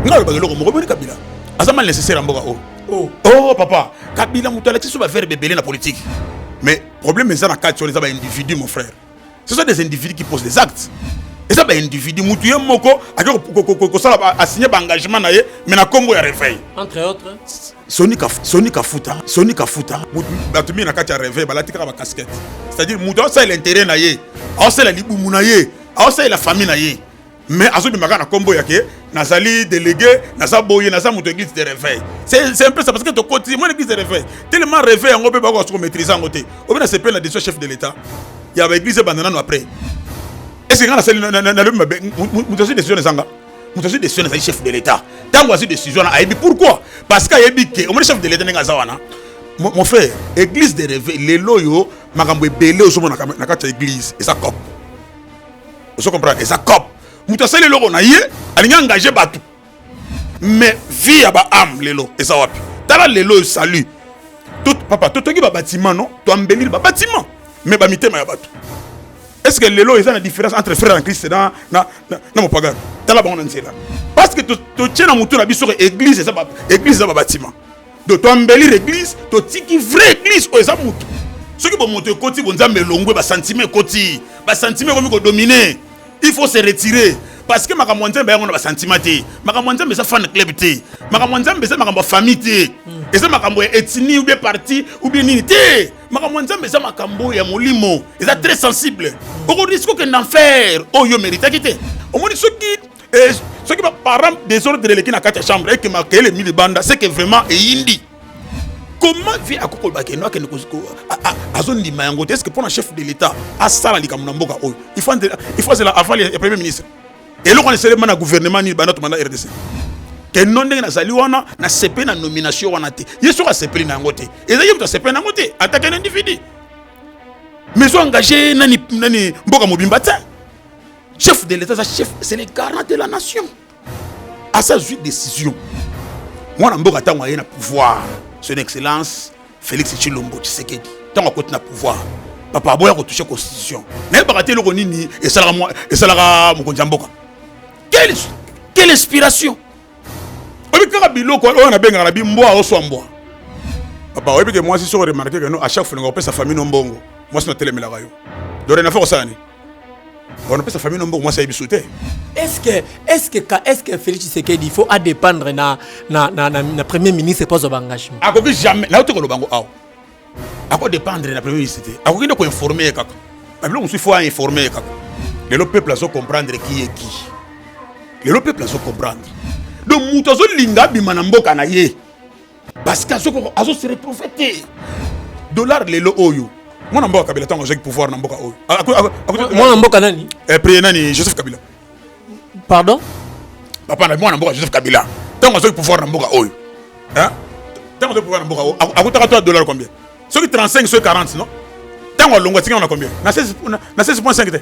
nga nalobaka eloko moko boni kabila aza mal nécessaire ya mboka oyo oh. oh. oh papa kabila moto alakisi so baverbe ebele na politique mais problème eza na kati wana eza baindividu mon frère ce sont des individus qui posent des actes eza baindividu motu ye moko ake kosala asigne baengagement na ye mais na nkombo ya réveil entre autres soni kafuta soni kafuta bato mingi na kati ya réveil balati kaka bacasquette c'est-à-dire moto aosalela intérêt na ye aosalela libumu na ye aosalela famille na ye mais azobima kaka na nkombo ya ke nazali délégué naza boye naza moto église de réveil c'est un peu ça parce que tokoti mwana église de réveil tellement réveil yango mpe bakoka soko maîtrise yango te obe na sepele na décision chef de l'état ya baéglise ebanda nano après est-ce que nga nasali nalobi mabe moto azwi décision ezanga moto azwi décision ezali chef de l'état ntango azwi décision wana ayebi pourquoi parce que ayebi ke omoni chef de l'état ndenge aza wana mon frère église de réveil lelo oyo makambo ebele ozomonaka na kati ya église eza cope ozo comprendre eza cop moto asali eloko na ye alingi engage bato mais vie ya baame lelo eza wapi tala lelo oyo salut papa totongi babatiment non toambelili babatiment mais bamitema ya bato est ce que lelo eza na différence entre frère en christ na, na, na, na mopagano tala bango na nzela parce que totie na motu na biso ke église eza babatiment do to embellir église to tiki vrai église oyo eza mutu soki bomoto ekoti bonzambe elongwe basentiment ekoti basentiment ekomi kodomine il faut se retirer parce que makambo ya nzambe yango na basentiment te makambo ya nzambe eza fan club te makambo ya nzambe eza makambo ya famille te hmm. eza makambo ya ethnie ou bien parti ou bien nini te makambo ya nzambe eza makambo ya molimo eza très sensible okoriske okende enfer oyo oh, meritaki te omoni soki Et soki ba parents desordre eleki na kati ya chambre et que makele mi libanda, c'est que vraiment eyindi. Comment vie akokoloba ke no akende koziko azondima yango te? Est-ce que pona chef de l'État asala likambo na mboka oyo? Il faut il faut azela aval ya premier ministre. Eloko na esalema na gouvernement nini banda tomanda RDC? ke no ndenge nazali wana nasepeli na nomination wana te ye soki asepeli na yango te ezali ye moto asepeli na yango te atake na individu mais oengage nani, nani mboka mobimba te chef de l'etat aza chef c'est le garant de la nation asa azwi décision mwana mboka ntango aye na pouvoir son excellence félix tshilombo tshisekedi ntango akoti na pouvoir papa aboya kotouche constitution nayebaka te eloko nini esalaka mokonzi ya mboka quelle inspiration oyebi kaka biloko oyo nabengaka na bimbwa oswa mbwa papa oyebi ke mwasi soko remarke keno a chaque fois olinga kopesa famille no mbongo mwasi natelemelaka yo dorenafa kosala nini On sa famille nombo mwasi ayebi te est-ce que est-ce que est-ce que Félix Tshisekedi il faut à dépendre na na na, na, na premier ministre pas ba engagement akoki jamais na otoko lobango awa ako dépendre na premier ministre te akoki nde ko informer kaka babilo mosusu faut informer kaka lelo peuple azo comprendre qui est qui lelo peuple azo comprendre donc moto azolinga abima na mboka na ye parce que azo se retrouver te dollar lelo oyo mwana mboka kabila ntango azwaki pouvoir na mboka oyo mwana mboka nani eh, priye nani joseph kabila pardon papa na mwana mboka joseph kabila ntango azwaki pouvoir na mboka oyo ntango azwaki pouvoir na mboka oyo akutaka to ya dollar combien soki 35 soki 40 non ntango alongwa atikana na combien na 16.5 te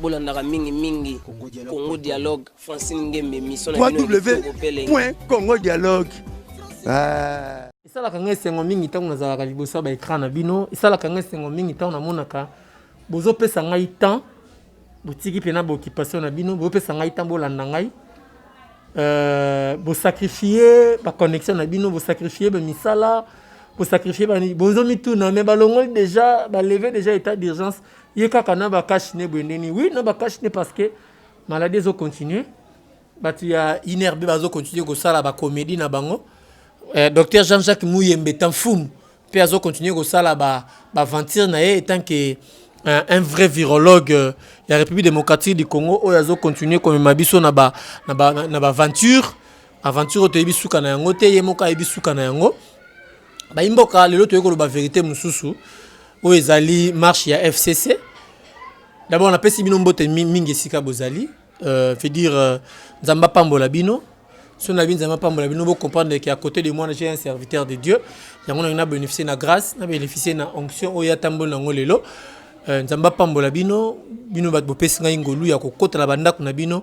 bolandaka mingi mingi congo dialogue francine ngembe émission www.congo dialogue ah. esalaka ngai esengo mingi ntango nazalaka liboso ya baekran na bino esalaka ngai esengo mingi ntango namonaka bozopesa ngai temps botiki mpena baoccupation na bino bopesa ngai temps bolanda ngai euh, bosacrifie baconnexion na bino bosacrifie bamisala bosacrifie bozomituna me balongoli déjà baleve déjà état d'urgence ye kaka na ba cash ne boye ndeni oui na ba cash ne parce que maladie ezo continuer bato ya inerbe bazo continuer kosala ba comédie na bango eh, docteur jean jacques muyembe tamfumu mpe azo continuer kosala ba baventure na ye etant que un, un vrai virologue euh, ya république démocratique du congo oyo azo continuer komema biso na ba na ba na ba aventure aventure oyo toyebi suka na yango te ye moko ayebi suka na yango bayimboka lelo toyei koloba verité mosusu oyo ezali marche ya fcc d'abord napesi bino mbote mingi esika bozali euh, fait dire euh, nzambe apambola bino so na bino nzambe apambola bino bocomprendre ke à côté de moi j'ai un serviteur de dieu yango nangi na bénéficie na grâce na bénéficie na onction oyo atamboli nango lelo euh, nzambe apambola bino bino bato bopesi ngai ngolu ya kokota na bandako na bino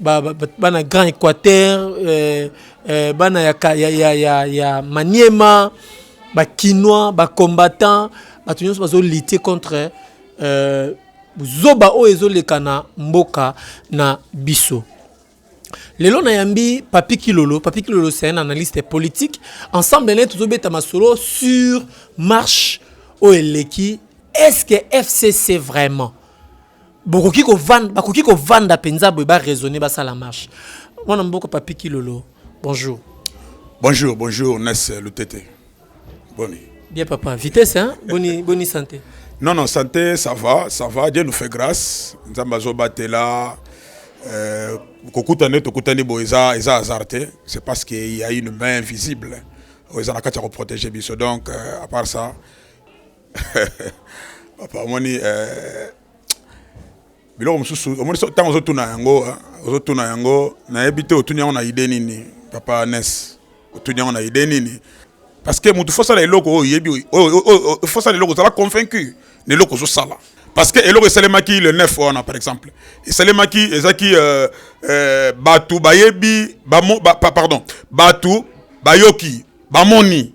bana grand équateur euh, euh, bana ya, ya, ya, ya, ya maniema bakinois bacombattant bato nyonso bazolite contre euh, zoba oyo ezoleka na mboka na biso lelo nayambi papi kilolo papi kilolo c'est un analyste politique ensemble naye tozobeta masolo sur marche oyo eleki est ce que fcc vraiment bokoki kovanda bakoki kovanda mpenza boye baraisonne basala marche mwana mboka papi kilolo bonjour bonjour bonjour nes lutete boni bien papa vitesse hein? boni, boni santé non non santé ça va ça va dieu nous fait grâce nzambe azobatela euh, kokutana tokutani boye eza eza hasard te c'est parce qu'il y a une main invisible oyo eza na kati ya koprotege biso donc euh, à part ça papa omoni eh, biloko mosusu omoni ntango ozotuna yango eh, ozotuna yango nayebi te otuni yango na ide nini papa nes otuni yango na ide nini parce que motu fosala eloko oyo oyebi fosala eloko ozala convaincu na eloko ozosala parce que eloko esalemaki le 9 wana par exemple esalemaki ezaki euh, euh, bato bayebi ba, pardon bato bayoki bamoni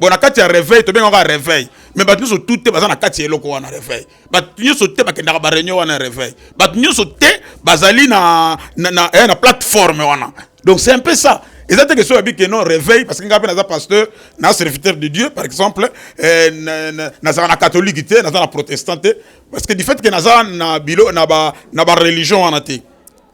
bon na kati ya reveil tobengaka kaka reveil mais bato nyonso tu te baza na kati ya eloko wana reveil bato nyonso te bakendaka bareunion wana ya reveil bato nyonso te bazali na, na, na, eh, na plateforme wana donc c'est un peu ça eza te question yabi keno réveil parce que ngai mpe naza pasteur na serviteur de dieu par exemple eh, nazala na catholique te naza na protestant te parce que du fait que naza na bilo na bareligion wana te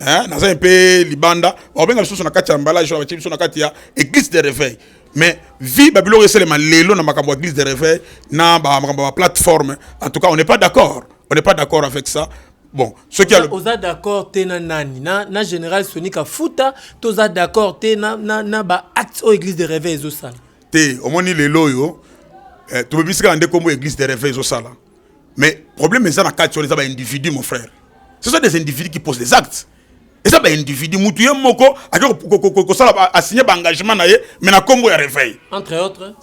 hein naza un peu libanda bakobenga biso na kati ya emballage batie biso na kati ya église de réveil mais vie babiloko esalema lelo na makambo ya église de réveil na makambo ya plateforme en tout cas on n'est pas d'accord on n'est pas d'accord avec ça bon ce qui soki oza d'accord te na nani na, na général soni kafuta toza d'accord te na, na, na ba acte oyo église de réveil ezosala te omoni lelo oyo eh, tobebisi kaka nde nkombo église de réveil ezosala mais problème eza na kati wana eza baindividu mon frère ce sont des individus qui posent des actes eza baindividu mutu ye moko ake kosala asigne baengagement na ye mais na nkombo ya réveil entre autres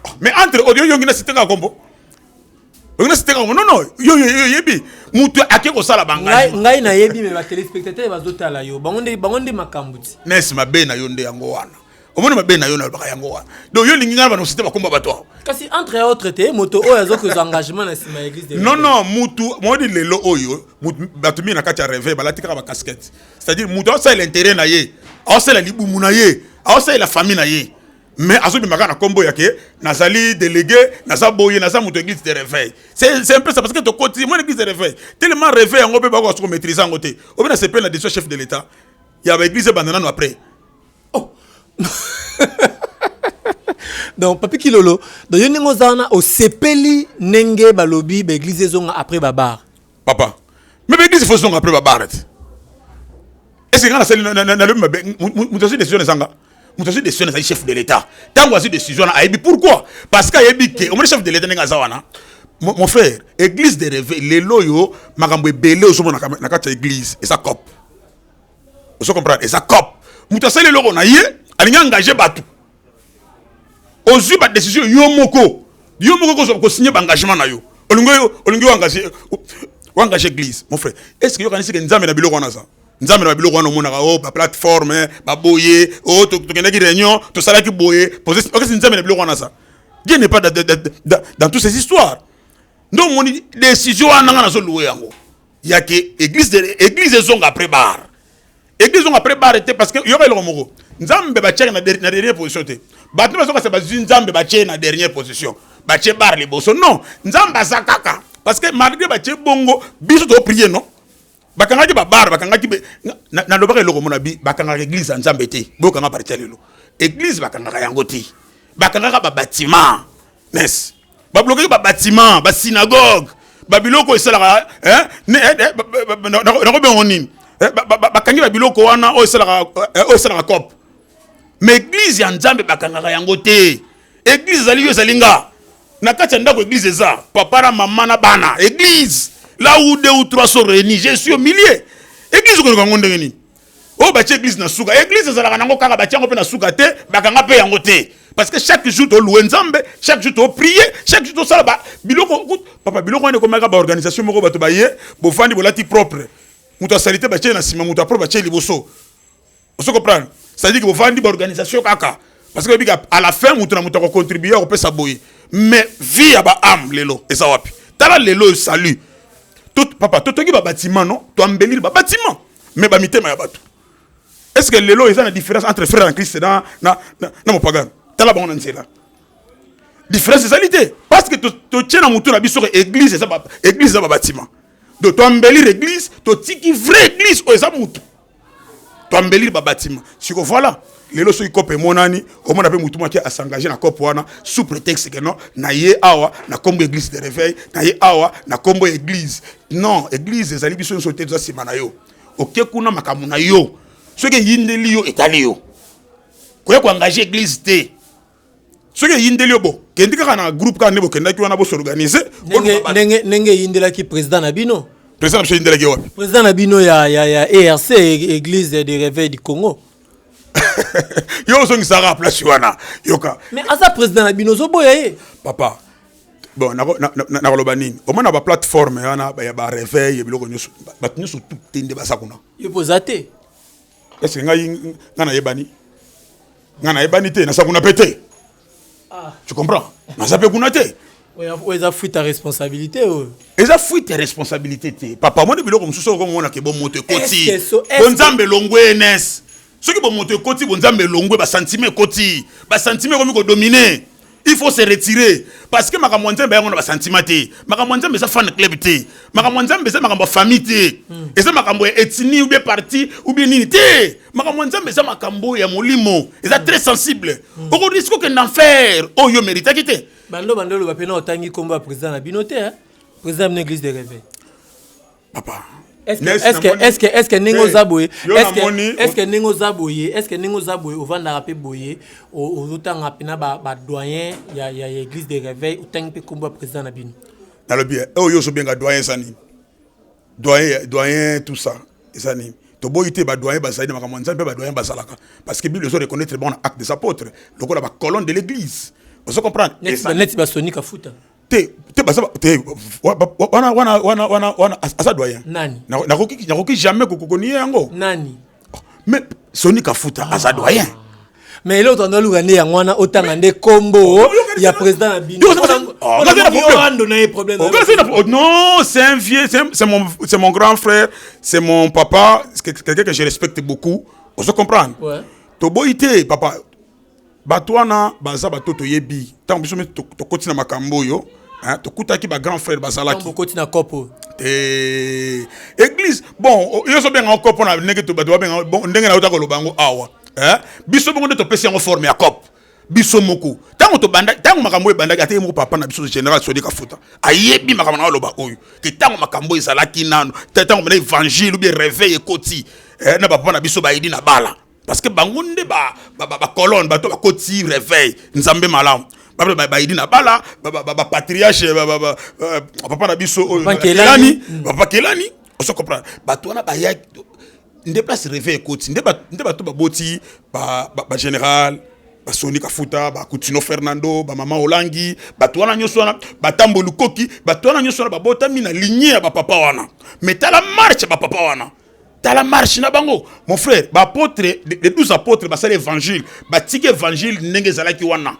ah, mais entre autres yoyongi na sitengaka nkombo oyo nasi teka non non yo yo yebi mutu ake kosala bangai ngai nayebi mais ba téléspectateurs bazotala yo bango nde bango nde makambo ti nesi mabe na yo nde yango wana omoni mabe na yo nalobaka yango wana donc yo olingi ngai banosi te bakomba bato awa kasi entre autre te moto oyo aza kozwa engagement na nsima ya église non non mutu moni lelo oyo bato mingi na kati ya reve balati kaka bacasquette c'est-à-dire moto aosalela intérêt na ye aosalela libumu na ye aosalela famille na ye mais azobima kaka na nkombo ya ke nazali délégué naza boye naza moto église de réveil c'est un peu ça parce que tokoti mwana église de réveil tellement réveil yango mpe bakoka soki omaîtrise yango te obe na sepele na décision chef de l'état ya baéglise ebanda nano après oh. donc papi kilolo donc yo ndenge oza wana osepeli ndenge balobi baeglise ezonga après babar papa me baeglise fo ezonga après babar te ese nga nasali nalobi mabe moto azwi décision ezanga moto azwi décision ezali chef de l'état ntango azwi décision wana ayebi pourquoi parce que ayebi ke omoni chef de l'état ndenge aza wana mon frère église de reve lelo oyo makambo ebele ozomona na kati ya église eza cope ozo comprendre eza cop moto asali eloko na ye alingi engage bato ozwi badecision yo moko yo moko kozwa kosigne baengagement na yo olingi olingi oengage oengage église mon frère est ce que yokanisi ke nzambe na biloko wana aza nzambe na biloko wana omonaka o oh, baplateforme baboye o oh, tokendaki réunion tosalaki boye okesi nzambe na biloko wana aza dieu n'est pas dans toutes ces histoires nde omoni décision wana nga nazoluwe yango ya ke église de église ezonga après bar église ezonga après bar te parce que yoka eloko moko nzambe batiaki na dernière position te bato bazokasa bazwi nzambe batie na dernière position batie bar liboso non nzambe aza kaka parce que malgré batie bongo biso toprie non bakangaki babare bakangaki nalobaka eloko mona bi bakangaka église ya nzambe te boyokanga parti ya lelo église bakangaka yango te bakangaka babatima mes ba bloquer ba bâtiments ba synagogue ba biloko esalaka hein ne eh, eh, na ko bengo nini eh, ba kangi ba biloko wana o esalaka o esalaka cop mais église ya Nzambe bakangaka yango te église ezali yo ezali nga na kati ya ndako église eza papa na mama na bana église là où deux ou trois sont réunis je suis au milieu église okoyoka yango ndenge nini oyo batie eglise na suka eglise ezalaka nango kaka batie yango mpe na suka te bakanga mpe yango te parce que chaque jour toloue nzambe chaque jour toprie chaque jour tosala ba biloko papa biloko wana ekomaka baorganisation moko bato baye bofandi bolati propre moto asalite batie na nsima moto apropre batie liboso ozo comprendre c'est-à-dire que bofandi baorganisation kaka parce que oyebi à la fin moto na moto akocontribue akopesa boye mais vie ya baame lelo eza wapi tala lelo salut papa totongi babatiment non toambelili babatiment mais ba mitema ya batu est ce que lelo eza na différence entre frère en Christ na na na, na mopagano tala bango na nzela différence ezali te parce que totie na motu na biso ke église eza église eza babatima do toambelir église totiki vrai église oyo eza motu toambelir babatima siko voilà lelo soki cope emonani omona mpe motu mwaki asengage na cope wana sous prétexte que non na ye awa na nkombo église de réveil na ye awa na nkombo ya église non église ezali biso nyonso te toza nsima na yo oke kuna makambo na yo soki eyindeli yo etali yo koya koengage église te soki eyindeli yo bokendi kaka na groupe kaka nde bokendaki wana bosorganize ndenge eyindelaki président na bino président na biso eyindelaki ye wapi président na bino ya, ya, ya erc église de réveil du congo yo ozongisaka place wana yoka mais aza président na bino ozoboya ye papa bon nakoloba nini omona baplateforme wana ya bareveil ya biloko nyonso bato nyonso tute nde baza kuna yo mpo oza te Est-ce que ngai ngai nayebani? Ngai nayebani te, na sakuna pe te. Ah. Tu comprends? Na zape kuna te. oyo eza fuite ya responsabilité oyo eza fuite ya responsabilité te papa omoni biloko mosusu oyo komonaka bomoto ekoti bonzambe elongwe enes soki bomoto ekoti bonzambe elongwe basantima ekoti basantima ekomi kodomine il faut se retirer parce que makambo ya nzambe yango na basentiment te makambo ya nzambe eza fan club te makambo ya nzambe eza makambo ya famille te hmm. eza makambo ya ethnie ou bien parti ou bien nini te makambo ya nzambe eza makambo ya molimo eza très sensible hmm. okoriske okende enfer oyo oh, meritaki te bando bando oloba mpe na otangi nkombo ya président na bino te président ya bino église de réveil papa eske ndenge oza boye eske ndenge oza boye eske ndenge oza boye ovandaka mpe boye ozotanga mpe na badoyen ya église de réveil otangi mpe nkombo ya président na bino nalobi eh, oyo oso benga doyen eza nini doyen doyen tout ça eza nini toboyi te badoyen bazali na makambo ya nzambe mpe badoyen bazalaka parce que bible ezo reconnaître bango na acte des apôtres lokola bacolonne de l'église ozo comprendre neti basoni kafuta te te baza te wana wana wana wana wana aza doyen nani nakoki nakoki jamais kokokonie yango nani oh, mais soni kafuta ah. aza doyen mais eloko tanda oluka nde yango wana otanga nde kombo oh, ya président na binoando oh, na ye problème non c'est un vieux c'est mon c'est mon grand frère c'est mon papa quelqu'un que je respecte beaucoup ozo comprendre toboyi te papa bato wana baza bato toyebi ntango biso mpe tokoti na makambo oyo tokutaki ba grand frère bazalaki okoti na kopo te église bon yo ozobenga yango kopo na ndenge bato babenga bon ndenge na yo takoloba yango awa biso bongo nde topesi yango forme ya kopo biso moko ntango tobanda ntango makambo oyo ebandaki ata ye moko papa na biso général sodi kafuta ayebi makambo na aloba oyo ke ntango makambo ezalaki nano ntango mena évangile obi réveil ekoti eh, na bapapa na biso bayidi na bala parce que bango nde bacolone bato bakoti reveil nzambe malamu baidi na bala bapatriarche papa na biso oyokelani papa kelani oso comprendre bato wana baya nde place reveil ekoti nde bato baboti bagénéral basoni kafuta bakutino fernando bamama olangi bato wana nyonso wana batambo lukoki bato wana nyonso wana babotami na ligne ya bapapa wana metala marche ya bapapa wana tala marche na bango mon frère baapôtre les 12 apôtres basali évangile batiki évangile ndenge ezalaki wana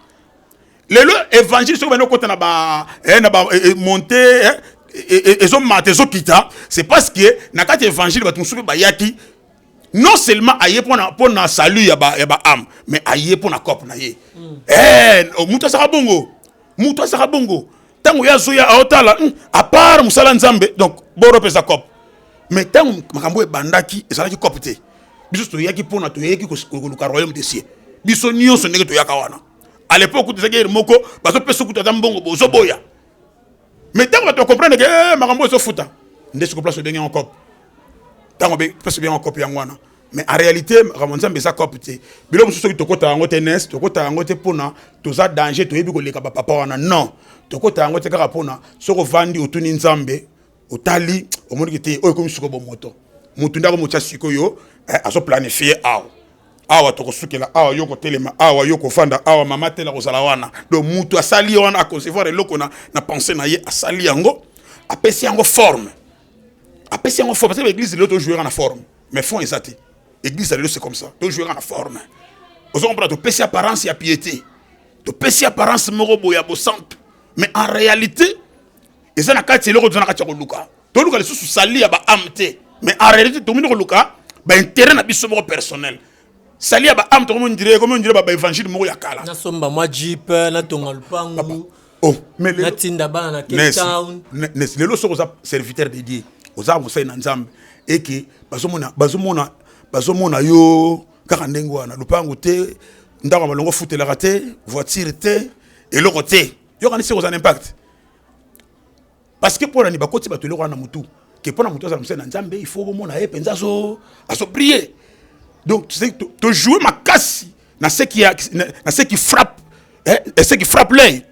lelo évangile soki bani okota na ba eh, na ba eh, eh, monte eh, ezomata ezokita c'est parce que na kati ya évangile bato mosusu mpe bayaki non seulement aye mpona mpona salut ya ba ya ba ame mais aye mpona cope na ye mm. eh, moto azaka bongo moto azaka bongo ntango ye azoya aotala hmm, apart mosala nzambe donc boro mpeza cop mais ntango makambo oyo ebandaki ezalaki cop te biso toyaki mpona toyaki koluka royaume de cieux biso nyonso ndenge toyaka wana à l'époque kutu ezalaki ere moko bazopesa kutu ata mbongo bozoboya mais ntango bato bacomprendre ke eh, makambo ezofuta nde siko place obengi yango cop ntango place obengi yango cop yango wana mais en réalité makambo nzambe eza cope te biloko mosusu soki tokota yango te nes tokota yango te mpona toza danger toyebi koleka bapapa wana non tokota yango te kaka mpona soki ovandi otuni nzambe otali omoniki te oyo ekomi sikoyo bomoto motu nde akomotya sikoyo eh, azoplanifie awa awa tokosukela awa yo kotelema awa yo kofanda awa mama tela kozala wana donc motu asali wana aconcevoir eloko na, na pense na ye asali yango apesi yango forme apesi yango forme parce que l'église lelo tojouera na forme mais fond eza te église ya lelo c'est comme ça tojouera na forme ozo comprendre topesi apparence ya piété topesi apparence moko boye ya bosantu mais en réalité eza na kati eloko toza na kati ya koluka toluka lisusu sali ya baame te mais en réalité tomini koluka baintérêt na biso moko personnel sali ya baame tokomi ondire ekomi ondire baevangile moko ya kala nasomba mwa jipe natonga lupangu oh mais lelo natinda bana na Cape Town nes lelo soko za serviteur de Dieu oza musai na Nzambe eke bazomona bazomona bazomona yo kaka ndenge wana lupangu te ndako malongo futelaka te voiture te eloko te yokanisi oza na impact parce que mpo na nini bakoti bato eloko wana na motu ke mpo na moto azala mosali na nzambe il faut bomona ye mpenza azoprie donc tojoue makasi na ce qui frappe ce qui frappe l'œil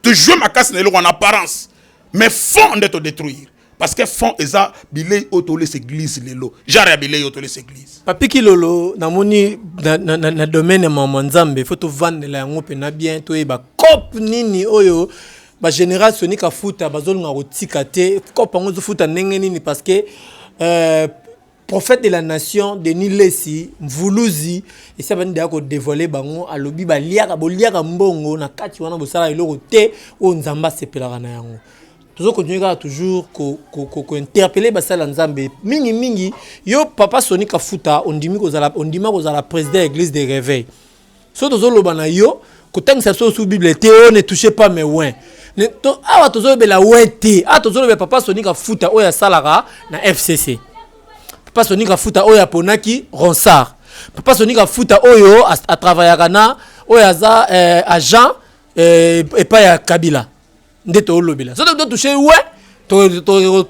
tojoue makasi na eloko en apparence mais fond nde todétruire parce que fond eza bilei oyo tolesa église lelo genre ya bilei oyo tolesa église papi kilolo namoni na, na, na, na domaine ya mama nzambe fo tovandela yango mpena bien toyeba cope nini oyo ba général soni kafuta bazolunga kotika te kopa yango ezofuta ndenge nini parce que euh, prophète de la nation denis lesi mvuluzi esi abandi deya kodévoile bango alobi baliaka boliaka mbongo na kati wana bosala eloko te oyo nzambe asepelaka na yango tozo continue kaka toujours kointerpele ko, ko basala nzambe mingi mingi yo papa soni kafuta ondimi kozala ondima kozala président ya église de réveil soki tozoloba na yo kotangisa biso osu bible te o ne touche pas mes win to, awa tozolobela win te awa tozolobela papa sonika futa oyo asalaka na fcc papa sonika futa oyo aponaki ronsard papa sonika futa oyo atravayaka na oyo aza eh, agent eh, epai ya kabila nde toolobela soki to touche we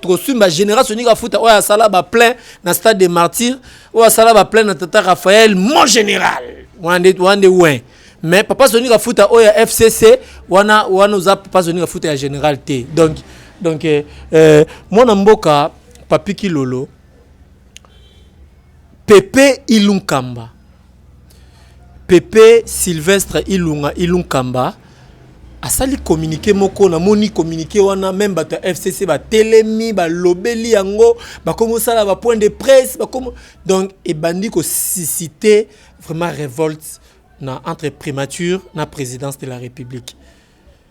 tokosimba général soninga afuta oyo asala baplein na stade de martyr oyo asala baplein na tata raphaël mon général wana nde wana nde we mais papa soninga afuta oyo ya fcc wana wana oza papa soninga afuta ya général te donc donc eh, eh, mwana mboka papi kilolo Pepe Ilunkamba, Pepe Sylvestre Ilunga Ilunkamba asali communiqué moko na moni communiqué wana meme bato ya FCC batelemi balobeli yango bakomi kosala ba point de presse bakomi donc ebandi ko susciter vraiment revolte na entre primature na présidence de la République.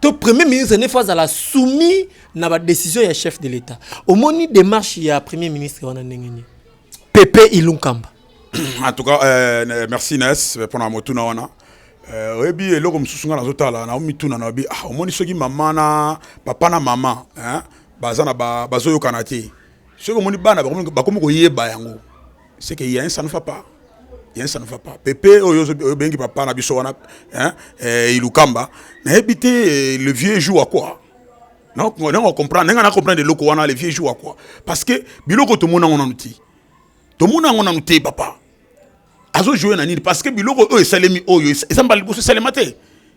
to premier ministre ne faut azala soumis na ba décision ya chef de l'état omoni démarche ya premier ministre wana ndenge nini pepe ilunkamba en tout cas euh, merci nes mpona motuna wana euh, oyebi eloko mosusu ngai nazotala naomituna na obi ah, omoni soki mama na papa na mama baza na bazoyokana te soki omoni bana bakomi koyeba yango c'est que il y a un ça ne va pas il y a un ça ne va pas Pepe oyo oyo bengi papa na biso wana hein eh, Ilukamba na habité eh, le vieux joue à quoi non on comprend n'a na comprendre loko wana le vieux joue à quoi parce que biloko to mona on outil to mona on outil papa azo jouer na nini parce que biloko oyo esalemi oyo esamba liboso esalema te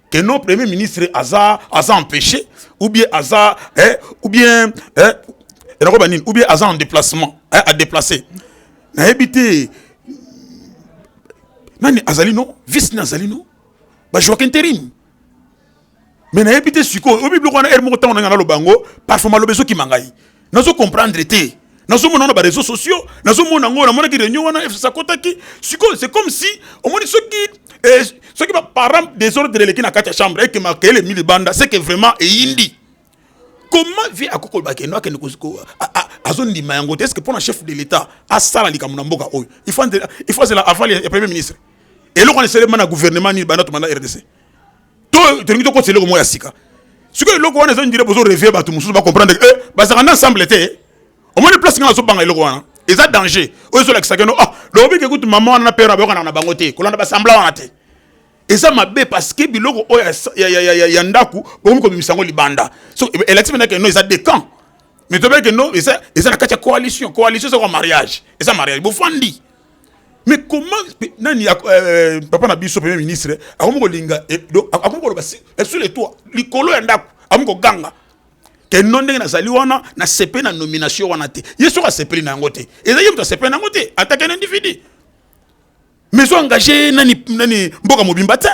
que non premier ministre aza aza empêché ou bien aza eh, ou bien eh, enakoba nini ou bien aza en déplacement eh, a déplacé nayebi te nani azali no vice nini azali no bajouaka interim mais nayebi te sikoyo oyebi biloko wana ere moko ntango nanga naloba yango parfoma aloba ezokima ngai nazo comprendre te nazomona na bareseau sociaux nazomona yango namonaki réunion wana fcc akotaki sikoyo c'est comme si omoni soki eh, soki baparent desordre eleki na kati ya chambre eke makele mi libanda seke vraiment eyindi comment vie akoki koloba keno akende azondima yango te est ce que mpo na chef de l'état asala likambo na mboka oyo il faut azela aval ya premier ministre eloko wana esalema na gouvernement nini banda tomanda rdc to tolingi tokotisa eloko moko ya sika sikoyo eloko wana ezondire bozo revie bato mosusu bacomprendre e eh, bazalaka na ensemble te omoni place ngai nazobanga eloko wana eza danger oyo ezolakisaka no ah lobike kutu mama wana na pere bayokanaka na bango te kolanda basambla wana te eza mabe parce que biloko oyo ya, ya, ya, ya, ya ndako bokomi kobimisa yango libanda so elakisi mpenza keno eza decamp mais tobeke no eza, eza na kati ya coalition coalition eza kwa mariage eza mariage bofandi mais comment nani euh, euh, papa na biso premier ministre akomi kolinga eh, akomi koloba eh, sur le toit likolo ya ndako akomi koganga keno ndenge nazali wana nasepeli na nomination wana te ye soki asepeli na yango te ezali ye moto asepeli na yango te atake na individu mais ozo engage nani, nani mboka mobimba te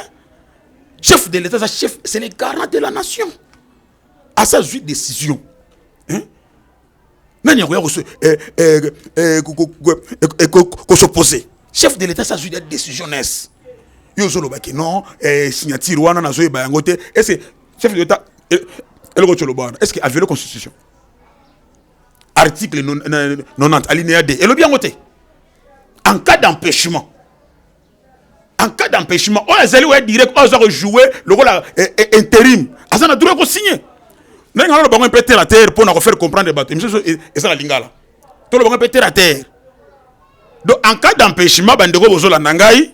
chef de l'état aza chef c'est le garant de la nation asa azwi décision hein? nani akoya kosopose chef de l'etat sazwi decision nes yo ozolobaki non eh, signature wana nazoyeba yango te ese chef de l'etat eh, eloko toloba wana est ce que aviole constitution article 90 alinéa 2 elobi yango te en cas d'empêchement en cas d'empêchement oyo azali oya direct oyo aza kojoue lokola eh, eh, interim aza na droit ya kosigne ndenge naloba bango mpe terre à terre mpo na kofaire comprendre bato emission e, eza na lingala toloba bango mpe terre à terre donc en cas d'empêchement bandeko bozolanda ngai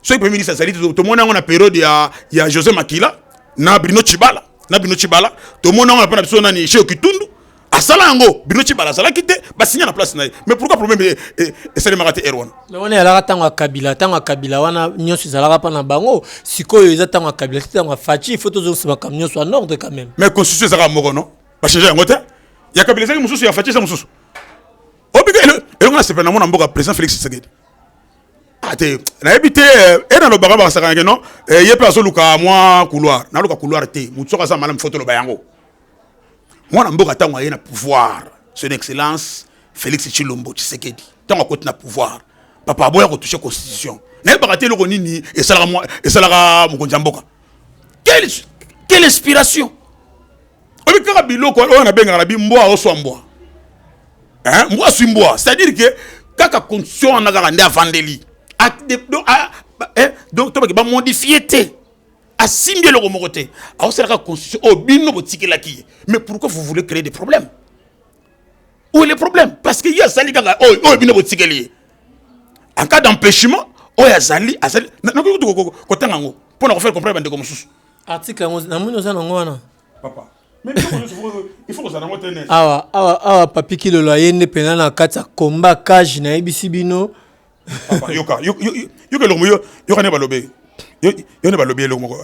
soki premier ministre azali tomoni yango na periode ya, ya josé makila na brino chibala na brino chibala tomoni yango na mpo na biso nani cheo kitundu asala yango bino cibala azalaki te basinya na place na ye mais pourquoi problème eh, eh, esalemaka te ere wana me wana ezalaka ntango ya kabila ntango ya kabila wana nyonso ezalaka mpa na bango sikoyo eza ntango ya kabila ti ntango ya faci fo tozongisa makambo nyonso ya norde quand même mais constitution ezalaka moko no bachange yango te ya kabila ezalaki mosusu ya faci eza mosusu obika elongo na sepela na mona mboka président félix tshisekedi ate ah, nayebi te eh, e nalobaka bakasakanake no ye mpe azoluka mwa couloir naluka couloir te motu soko aza malamu fo toloba yango mwana mboka ntango aye na pouvoir son excellence félix tshilombo tshisekedi ntango akoti na pouvoir papa aboya kotouche constitution nayebaka te eloko nini esalaka mokonzi ya mboka quelle inspiration oyebi kaka biloko oyo nabengaka na bi mbwa oswa mbwa mbwa aswi mbwa c'est à dire ke kaka constitution wana kaka nde avandeli donc tobake bamodifie te asimbi eloko moko te aosalaka constitution oyo oh, bino botikelaki ye mais pourquoi vous voulez créer des problèmes où est le problème parce que ye asali kaka oyo oh, oyo oh, bino botikeli ye en cas d'empêchement oyo azali azali nakoki kutu kotanga yango mpo na kofere comprendre bandeko mosusu article yango namoni oza nango wana papa awa awa awa papi kilolo aye nde mpenza na kati ya combat cage nayebisi bino papa yoka yoka eloko yo yoka ne balobe yo yo ne balobe eloko moko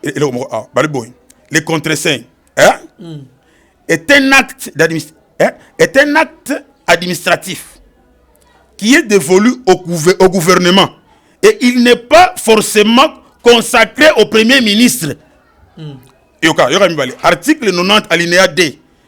eh, eloko moko ah bali boy le contre saint hein mm. est un acte d'administration hein? est un acte administratif qui est dévolu au, gouver au gouvernement et il n'est pas forcément consacré au premier ministre mm. yoka yoka mibale article 90 alinéa 2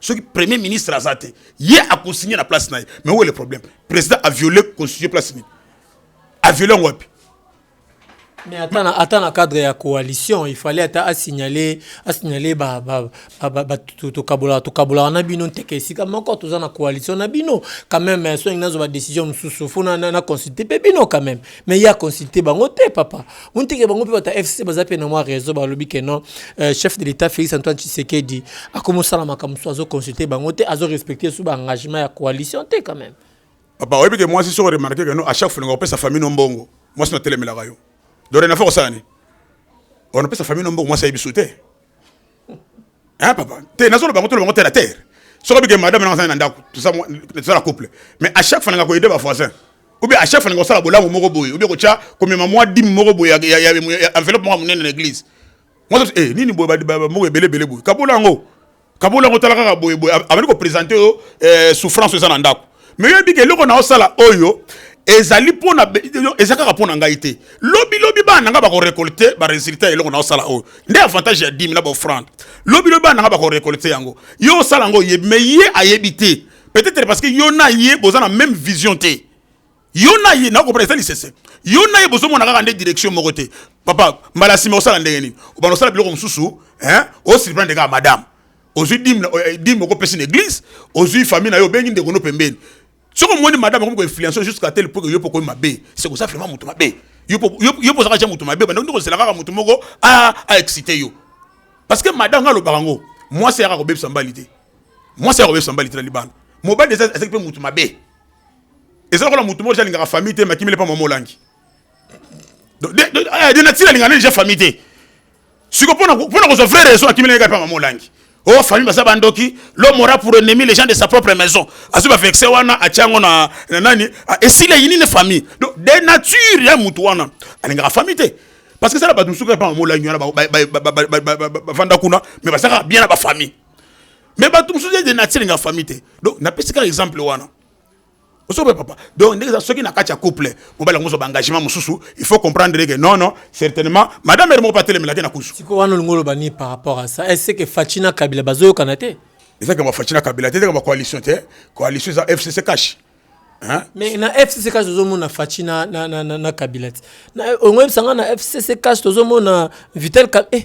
soki premier ministre aza te ye akonsigne na place na ye mais oyo le problème président aviole constitution place nini aviole yango wapi mais ata na ata na cadre ya coalition il fallait ata asignale asignale ba ba ba, ba tokabola tokabola na bino nteke esika moko toza na coalition na bino quand même soki nazo ba décision mosusu fo na, na, na consulter pe bino quand même mais ya consulter bango te papa onteke bango mpe bata fcc baza mpe na mwa raison balobi ke non euh, chef de l'état félix antoine tshisekedi akomi osala makambo mosusu azoconsulte bango te azorespecte su baengagement ya coalition te quand même papa oyebi ke mwasi soko remarke ke no à chaque folinga opesa famille no mbongo mwasi natelemelaka yo dorenafa kosala nini onapesa famille no mbongo mwasi ayebi su te Hein papa, te nazo loba kotolo bango terre à terre. Soki bike madame na na ndako, tout ça tout ça la couple. Mais à chaque fois nga ko aider ba voisins. Ou bien à chaque fois nga sala bolamu moko boye, ou bien ko tia ko mema mwa dim moko boye ya ya enveloppe moko munene na église. Moi eh nini boye ba moko ebele bele boye. Kabola ngo. Kabola ngo tala kaka boye boye. Abandi ko présenter yo eh, souffrance eza na ndako. mais oyebi ke eloko naosala oyo ezali mpona eza kaka mpo na ngai te lobilobi bana na ngai bakorekolte baresultat ya eloko naosala oyo nde avantage ya dime na baofrande lobilobi bana na ngai bakorekolte yango ye osala yango oyebi mais ye ayebi te peut-être parce que yo na ye boza na même vision te yo na ye nakopona eza lisese yo na ye bozomona kaka nde direction moko te papa mbala nsima osala ndenge nini obanda osala biloko mosusu osurprendre kaka madame ozwi dime eh, dime oko pesi na église ozwi famille na yo obengi ndeko no pembeni soki omoni madame akomi koinfluence jusqu'à tel point que yo mpo okomi mabe c'est koza vraiment moto mabe yo mpo ozalaka ja moto mabe banda kozela kaka moto moko a excité yo parce que madame nga alobaka yango mwasi yaka kobebisa mbali te mwasi yaka kobebisa mbali te na libanda mobali eza ezaki mpe moto mabe eza lokola moto moko jalingaka famille te makimele mpa mwa molangi de nature alingaka nde deja famille te siko pona pona kozwa vraie raison akimi na ye kapa mama olangi oh famille baza bandoki l'homme aura pour ennemi les gens de sa propre maison azwi ba vexe wana atya yango na na nani ah, esili ayini ne famille donc de nature ya mutu wana alingaka famille te parce que sala bato mosuku epa mamolangi wana bavanda kuna mais bazalaka bien na bafamille mais bato mosusu de nature alingaka famille te donc napesi kaka exemple wana osobe papa donc ndenge eza soki na kati ya couple mobali yango ozwa engagement mosusu il faut comprendre que non non certainement madame ere moko mpe atelemelaki na kusu sikoyo wana olingi oloba nini par rapport à ça est-ce que faci na kabila bazoyokana te ezaka bafaci na kabila te ezaka bacoalition te coalition eza fcc cash hein? mais na fcc cash tozomona faci na, na, na, na, na kabila te Na- olingi oyebisa ngai na fcc cash tozomona vital Ka- eh,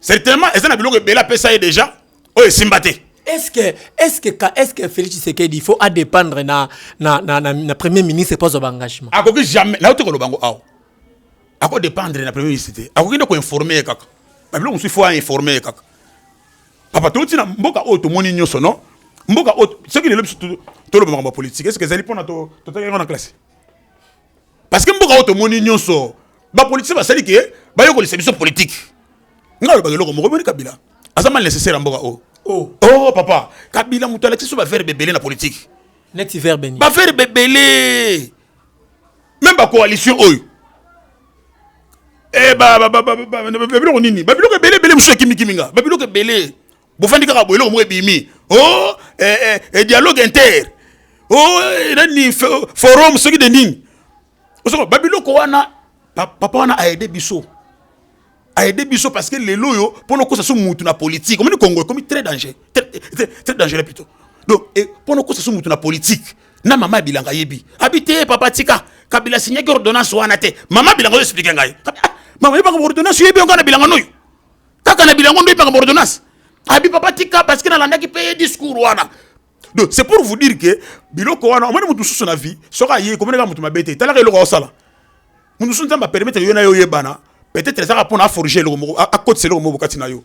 certainement eza na biloko ebele apesa ye deja oyo esimba te est-ce que est-ce que est-ce que Félix Tshisekedi il faut à dépendre na na na na, na premier ministre pas au engagement akoki jamais na yote koloba ngo awa ako dépendre na premier ministre te akoki nde ko informer ye kaka babilo mosusu faut a informer ye kaka papa touti na mboka oyo tomoni nyonso non mboka oyo soki lelo biso toloba makambo ya politike est ce que ezali mpona totalaki yango na classe parce que mboka oyo tomoni nyonso bapolitise basali ke bayokolisa biso politike ngai alobaka eloko moko moni kabila aza mal nécessaire ya mboka oyo oh. oh papa kabila moto alakisi biso baverbe ebele na politike neti verbe nini baverbe ebele meme bacoalition oyo eh, biloko nini babiloko ebele ebele mosusu ekimikimi nga babiloko ebele bofandi kaka boye eloko moko ebimi o oh, eh, eh, eh, dialogue inter o oh, eh, nani forum soki de nini osoko babiloko wana papa wana aide biso aide biso parce que lelo oyo mpo nokosa so mutu na politique omoni congo ekomi très danger très dangereux plutôt donc mpo nokosa so mutu na politique na mama ya bilanga ayebi abi te papa tika kabila signaki ordonnance wana te mama bilanga oyo explike ngai ah, mama yebanga ordonnance oyebi yo ngai na bilanga noyo kaka na bilango nde epaka bordonnance abi papa tika parce que nalandaki mpe ye discours wana donc c'est pour vous dire que biloko wana omoni moto mosusu na vie soki aye komoni kaka moto mabe te talaka eloko aosala moto mosusu nzambe apermettre yo na yo oyebana peut-être ezaka mpo na aforge eloko moko akotisa eloko moko kati na yo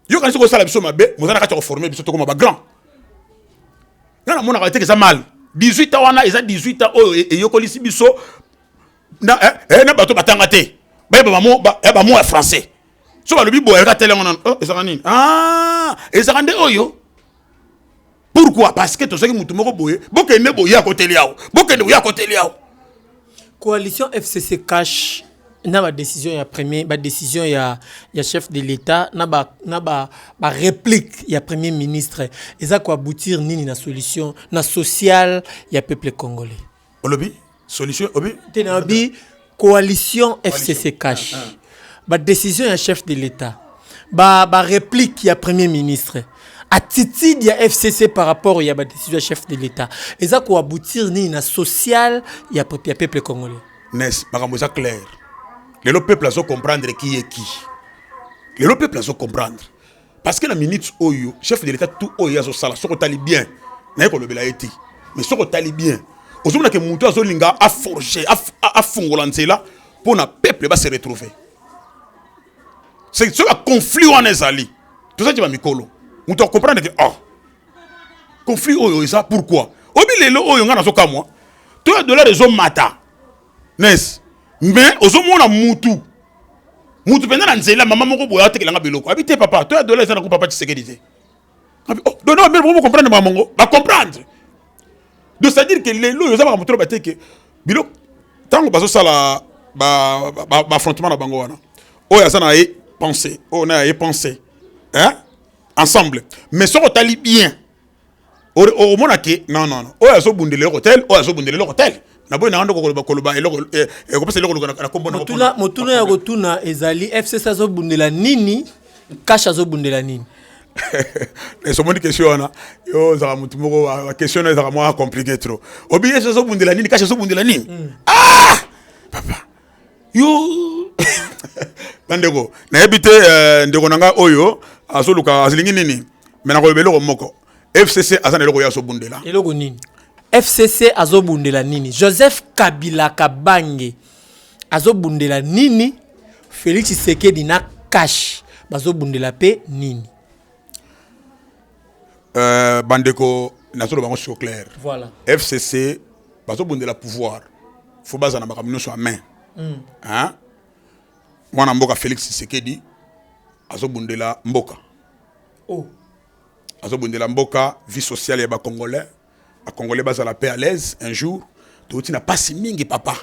yo kanisi kosala biso mabe moza na kati ya koforme biso tokoma bagrand nga namonaka te eza mal 18 ans wana eza 18 ans oyo eyokolisi biso na eh, eh na bato batanga te ba ba mo ba eh, ba mo ya français so ba lobi boya ka tele ngona oh ezaka nini ah ezaka nde oyo pourquoi parce que tozaki mutu moko boye bokende boye ya koteli yawo bokende boye ya koteli yawo coalition fcc cash na ba décision ya premier ba décision ya ya chef de l'état na ba na ba ba réplique ya premier ministre eza ko aboutir nini na solution na sociale ya peuple congolais olobi solution obi te na bi coalition FCC cash ba décision ya chef de l'État ba ba réplique ya premier ministre attitude ya FCC par rapport ya ba décision ya chef de l'État eza ko aboutir nini na social ya peuple ya peuple congolais n'est makambo eza clair lelo peuple azo comprendre qui est qui lelo peuple azo comprendre parce que na minute oyo chef de l'etat tout oyo azo sala soko tali bien na yeko lobela eti mais soko tali bien ozomona ke mutu azo linga a forger a fongola nzela pona peuple ba se retrouver c'est ce conflit wana ezali toza ki ba mikolo mutu a comprendre que oh conflit oyo eza pourquoi obi lelo oyo nga nazo kamwa to ya dollar ezo mata Nes, mais ozo mona mutu mutu mpenza na nzela mama moko boye atekela nga biloko abi te papa to ya dola eza na ko papa tshisekedi te abi oh dono bamere boko comprendre mama mongo ba comprendre donc c'est à dire que lelo oyo oza makambo tolo bate ke biloko ntango bazosala baaffrontement na bango wana oyo aza na ye pensé oyo na ye pensé hein? ensemble mais soki otali bien omona ke non non oyo azobundela eloko tel oyo azobundela eloko tel na boye nanga ndoko koloba koloba eloko eh, ekopesa eloko na kombo motuna motuna ya kotuna ezali fcc azobundela nini cash azobundela nini esomoni question wana yo ozalaka motu moko ah, question na ezalaka mwa compliqué trop obi fcc azobundela nini cash azobundela nini hmm. ah papa yo bandeko nayebi te euh, ndeko na ngai oyo azoluka azilingi nini me nakoloba eloko moko fcc aza na eloko ye azobundela eloko nini fcc azobundela nini joseph kabila kabange azobundela nini félix tshisekedi na kashe bazobundela mpe nini Euh, bandeko nazoloba yango sur clair voilà. fcc bazobundela pouvoir fo bazala na makambo nyonso ya main mm. mwana mboka félix tshisekedi azobundela mboka oh. azobundela mboka vie sociale ya bacongolais Ba congolais bazala pe à l'aise un jour touti na pasi mingi papa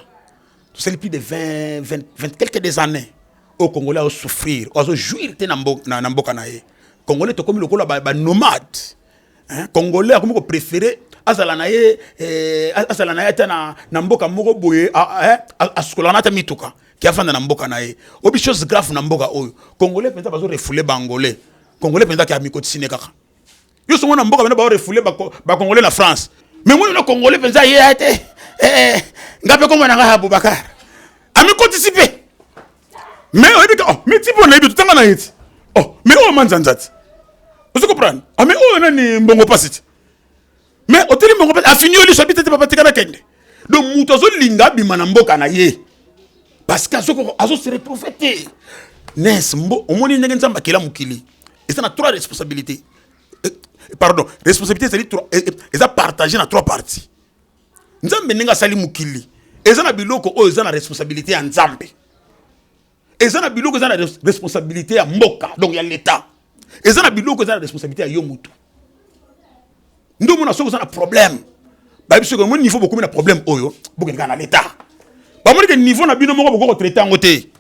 tosali plus de 20 20 20 quelques des années oyo congolais azo souffrir oyo azo jouir te na mboka na, na mboka na ye congolais tokomi lokola ba, ba nomade hein? congolais akomi ko préférer azala na ye eh, azala na ye ata na, na mboka moko boye eh, asukolaka na ata mituka ke afanda na mboka na ye obi chose grave na mboka oyo congolais mpenza bazo refoule bangolais congolais mpenza ke amikotisi ne kaka yo songo na mboka bana bao refoule ba congolais na France mais moni na congolais penza ye ya te eh, eh. nga pe komona nga Abubakar ami kotisi pe mais oyebi ka oh mais tipo na yebi tanga na yeti oh mais oh manzanza ti ozo comprendre ah mais oh nani mbongo pasi ti mais oteli mbongo pasi afini yo liso abite te papa tika na kende donc moto azolinga abima na mboka na ye parce que azo se retrouve te nes mbo omoni ndenge nzambe akela mokili eza na trois responsabilité eh, pardon responsabilité ezali eh, eh, eza partage na trois parties nzambe ndenge asali mokili eza na biloko oyo eza na responsabilité ya nzambe eza na biloko eza na responsabilité ya mboka donc ya leta eza na biloko eza na responsabilité ya yo motu nde omona soki oza na problème bayebi soki omoni niveau bokomi na problème oyo bokendeka na leta bamoni ke niveau na bino moko bokoki kotraite yango te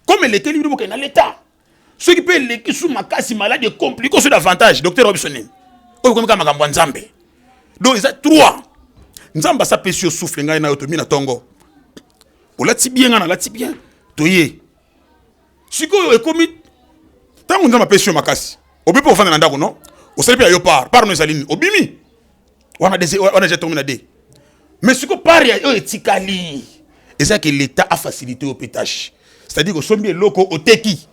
comme elekeli bino bokende na leta soki mpe eleki su makasi maladi ekomplike oso davantage docteur wa biso nini oyo komika makambo ya nzambe donc eza trois nzambe asapesi yo souffle ngai nayo tomi na tongo olati bien ngai nalati bien toye sikoyo ekomi ntango nzambe apesi yo makasi obi mpe ofanda na ndako no osali mpe ya yo par par no ezali nini obimi wana wana deja tokomi na de mais siko pari oyo etikali eza ke leta afacilite yo mpe tâche c'est-à-dire osombi eloko oteki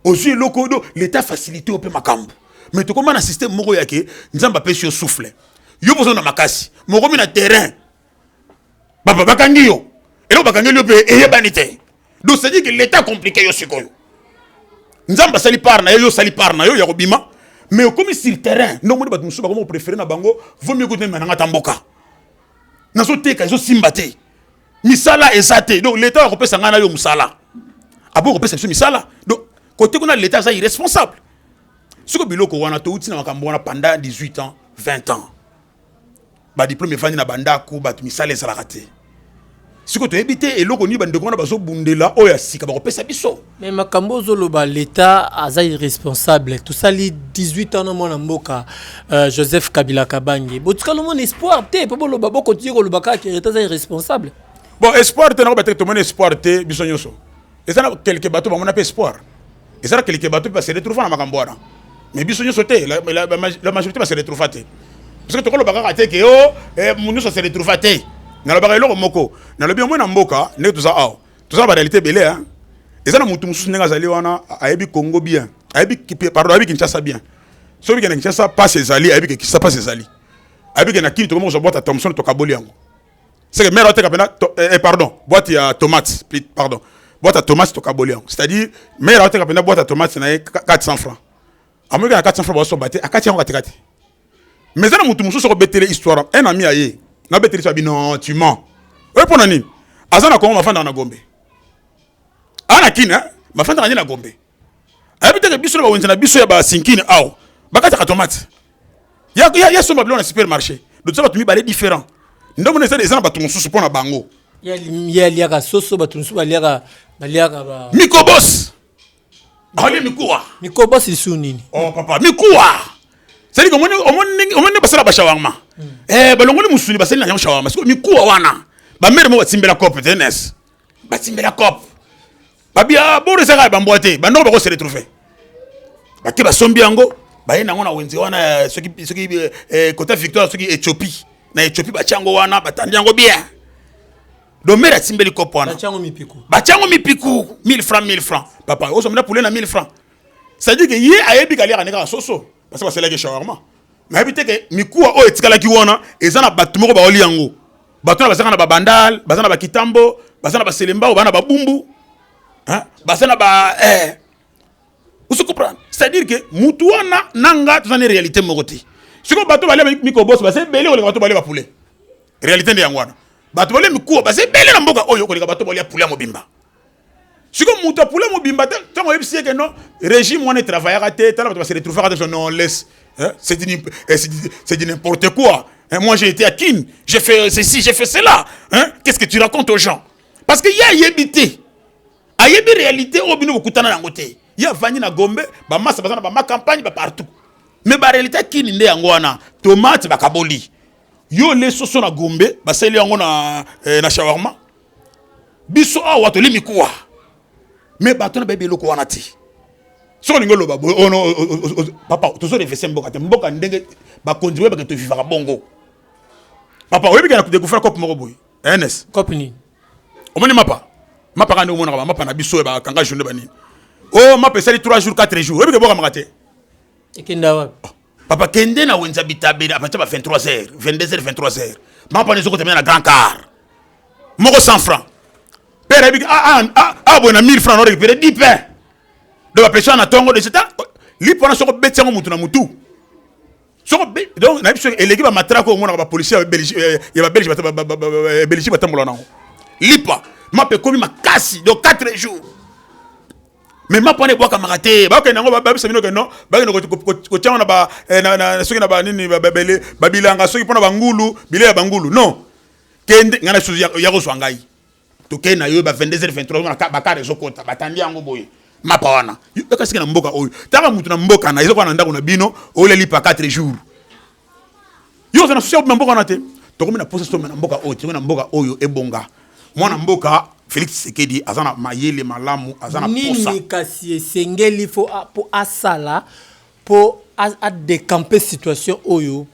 ozwi eloko oyo leta afacilite yo mpe makambo mais tokoma na systeme moko yake nzambe apesi yo souffle yo mpoza na makasi mokomi na terrain papa bakangi yo eloko bakangeli yo mpe eyebani te donc c'est dire que l'état compliqué yo sikoyo nzambe asali part na ye yo osali part na yo ya kobima mais okomi sur terrain nde omoni bato mosusu bakomi kopréféré na bango vomi ekuti meme nanga ta mboka nazoteka ezosimba te misala eza te donc leta oya kopesa ngai na yo mosala aboyi kopesa biso misala donc kote kuna leta aza irresponsable siko biloko wana touti na makambo wana pendant 18 ans 20 ans badiplome efandi na bandako bato misala ezalaka te sikoyo toyebi te eloko nini bandeko wana bazobundela oyo ya sika bakopesa biso me makambo ozoloba leta aza irresponsable tosali 18 ans na mwana mboka uh, joseph kabila kabange botikala omona espoir te mpo boloba bokotiye koloba kaka leta aza irresponsable bon espoir te nakoba te tomoni espoir te biso nyonso eza na quelque bato bamona mpe espoir eza na quelque bato mpe base retrouva na makambo wana mais biso nyonso te la majorité base retrouva te parceke tokoloba kaka te ke o mo nyonso ase retrouva te nalobaka eloko moko nalobi omoi na mboka ndenge toza awa toza na barealité ebele hein. eza na motu mosusu ndenge azali wana ayebi congo bien ayebi pardon ayebi kinshasa bien soki bikende kinshasa pasi ezali ayebi ke kinshasa pasi ezali ayebi ke na kini tokomi kozwa bwata thomson tokaboli yango seke mare ateka mpena eh, eh, pardon boite ya tomate pardon boite ya tomate tokaboli yango c'est à dire mare ateka mpena boite ya tomate na ye 400 francs amoyika na 400 francs baosomba te akati yango katikati mais eza na motu mosusu okobetele histoire un ami ya ye nabetele histoire bino tu mens oyo mpo na nini aza na kongo mafandaka na gombe aa na kine mafandaka nde na gombe ayebi te ke biso na bawenze na biso ya basinkini awa bakataka tomate ya somba biloko na supermarché lotoza bato mibale différent nde omona eza eza na bato mosusu mpo na bango ye aliaka soso bato mosusu baliaka baliaka ba mikobos alie ah, mikuwa mikobos lisu nini oh papa mikuwa sadi omoni omoni basala bashawarma hmm. eh balongoli musuni basali na yango shawarma siko mikuwa wana bamere mo batimbela cope tenes batimbela cope babi ah, boro ezaka ya bambwa te bandoko bako se retrouve bake basombi yango baye nango na wenze wana soki soki kota eh, eh, victoire soki ethiopie na ethiopie batya yango wana batandi yango bien domere atimbeli kopo wana batya yango mipiku 1000 francs 1000 francs papa ozomela poulet na 1000 francs c'est-à-dire que ye ayebi kaliaka nde kaka soso parce que basalaki shawarma nayebi te ke mikuwa oyo etikalaki wana eza na bato moko baoli yango bato wana bazaka na babandal baza na bakitambo baza na baselembao bana babumbu baza na ba eh. osi comprendre c'est à dire que mutu wana na nga toza na réalité moko te sikoyo bato balia mikoboso baza ebele koleka bato balia bapoulet réalité nde yango wana bato balia mikuwa baza ebele na mboka oyo koleka bato balia poulet ya mobimba siko moto apula mobimba te ntango oyebisi ye ke non régime wana etravayaka te tala bato base retrouvaka te non laisse hein? c'est du eh, n'importe quoi hein? moi j'ai été à kin j'ai fait ceci j'ai fait cela hein? qu'est ce que tu racontes aux gens parce que ye ayebi te ayebi réalité oyo bino bokutana yango te ye avandi na gombe bamasa baza na bama campagne bapartout mais baréalité ya kini nde yango wana tomate bakaboli yo le soso na gombe basali yango na, eh, na shawarma biso awa toli mikuwa me bato na bayebi eloko wana te soki olingi oloba boye ono oh, oh, oh, papa tozo refese mboka te mboka ndenge bakonzi boye bake tovivaka bongo papa oyebi kana dekufela cope moko boye ns cope nini omoni mapa mapa kande omonaka bamapa na biso bakanga journe banini o mapa esali 3 jours 4 jours oyebi ke bokamaka te ekenda wapi papa kende na wenza bitabeli apatia ba 23 heures 22 heures 23 heures mapa nezo kotemela na grand car moko 100 francs père ayebi ah, ah, ah, ah, boye na 1000 francs na récupéré 10 pain donc bapesana na tongo de seta lipo wana soko obeti yango motu na motu soko donc nayebi soki eleki bamatrako omonaka bapolisi ya babelge eh, belgique batambola nango lipa mapa ekomi makasi donc 4 jours mais mapa wana ebwakamaka te bakende yango babisa bino ke non bakende kotyama na ba eh, soki na banini babilanga soki mpo na bangulu bile ya bangulu non kende ngai na susu ya kozwa ngai tokei na yo ba 22 23 bakare ezokota batandi yango boye mapa wana ekasiki na mboka oyo taka motu na mboka na ezokoka na ndako na bino oleli pa 4 jours yo oza na susi ya mboka wana te tokomi na posa soma na mboka oyo tokomi na mboka oyo ebonga mwana mboka Felix Tshisekedi aza na mayele malamu aza na posa nini kasi esengeli fo po asala po a décamper situation oyo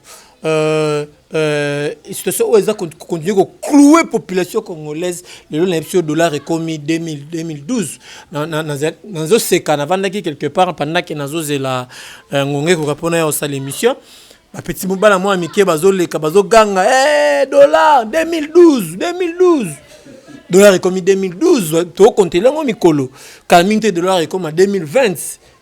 euh, euh, situation oyo eza continue ko clouer population congolaise lelo na biso dollar ekomi 2012 nazoseka navandaki quelque part pendant ke nazozela Eh, ngonga ekoka mpona ya osala émission bapeti mobala mwa mike bazoleka bazoganga hey, eh, dollar 2012 2012 dollar ekomi 2012 tokontele yango mikolo kala mingi te dollar ekoma 2020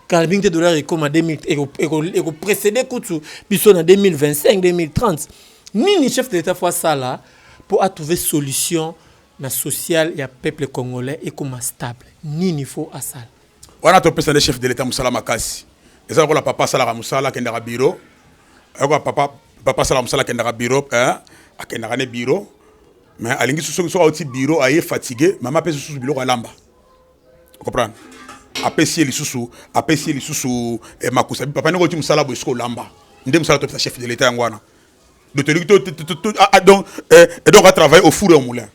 kala mingi te dollar ekoma 2000 ekoprecede kutu biso na 2025 2030 nini chef de l'état fo asala mpo atrouve solution na sociale ya peuple congolais ekoma stable nini fo asala Wana topesa nde chef de l'etat musala makasi. Eza lokola papa asalaka musala akendaka bureau. Ayoko papa papa asalaka musala akendaka bureau eh akendaka ne bureau mais alingi soki soki auti bureau aye fatigue mama apesi susu biloko alamba. Comprendre? Apesi ye lisusu apesi ye lisusu eh, makusa papa ndenge oti musala boye soki olamba nde musala topesa chef de l'etat yango wana. Donc tolingi to, to, to, to, ah, ah, donc, eh, et donc à travailler au four et au moulin.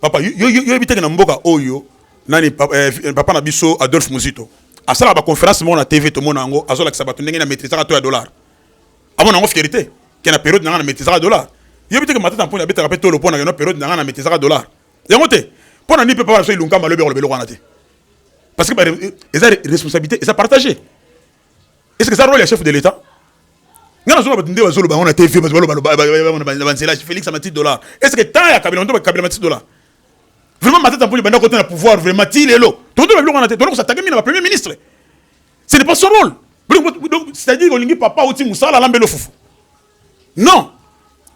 papa yo yebi teke na mboka oyo nani papa, eh, eh, papa na biso Adolphe Muzito asala ba conférence moko na TV tomona yango azolakisa bato ndenge na maîtrisaka to ya dollar amona yango fieri te ke na periode na ngai na maîtrisaka dollar yebi teke matata mponi abetaka mpe tolo mpo na keno periode na ngai na maîtrisaka dollar yango te mpo na nini mpe papa na biso ilunkamba alobi akoloba eloko wana te parce que eza responsabilité eza partagé Est-ce que ça rôle ya chef de l'État? Nga nazona bato nde bazoloba yango na TV, bato baloba na banzela Felix na matiti dollar. Est-ce que temps ya Kabila nde bakabila matiti dollar? Vraiment Matata Mponyo banda kota na pouvoir vraiment ti lelo. Tonto ba biloko na te, toloko s'attaquer mina ba premier ministre. Ce n'est pas son rôle. Donc c'est-à-dire olingi papa oti musala lambelo fufu. non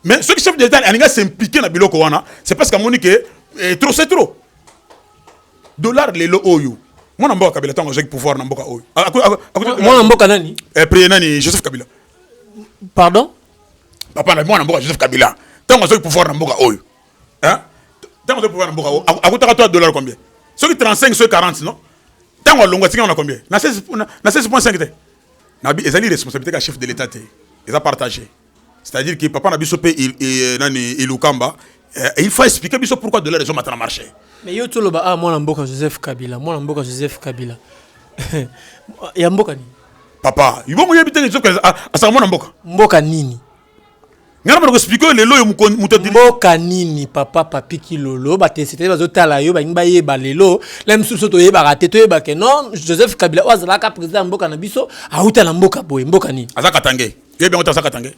mais soki chef de l'état alingi asimplike na biloko wana c'est parce que amoni ke eh, trop c'est trop dollar lelo oyo mwana mboka kabila ntango azwaki pouvoir na mboka oyo mwana mboka nani eh, priye nani joseph kabila pardon papa na mwana mboka joseph kabila ntango azwaki pouvoir na mboka oyo ntango azwaki pouvoir na mboka oyo akutaka to dollar combien soki 35 soki 40 non ntango alongwa atikanga na combien na 16.5 te Nabi ezali responsabilité ka chef de l'État te. Eza partagé. C'est-à-dire que papa na biso pe il, il, nani Ilukamba euh, il faut expliquer biso pourquoi de la raison maintenant marché. Mais yo tu loba ah mwana mboka Joseph Kabila, mwana mboka Joseph Kabila. ya mboka ni. Papa, yo mo yebite ni zoka asaka mwana mboka. Mboka nini? ngana bana koexplike oyo lelo oyo moto mboka nini papa papi kilolo batesete bazotala yo balingi bayeba lelo la mosusu biso toyebaka te toyeba ke non joseph kabila oyo azalaka président ya mboka na biso awuta na mboka boye mboka nini aza katange yebi yango te aza katange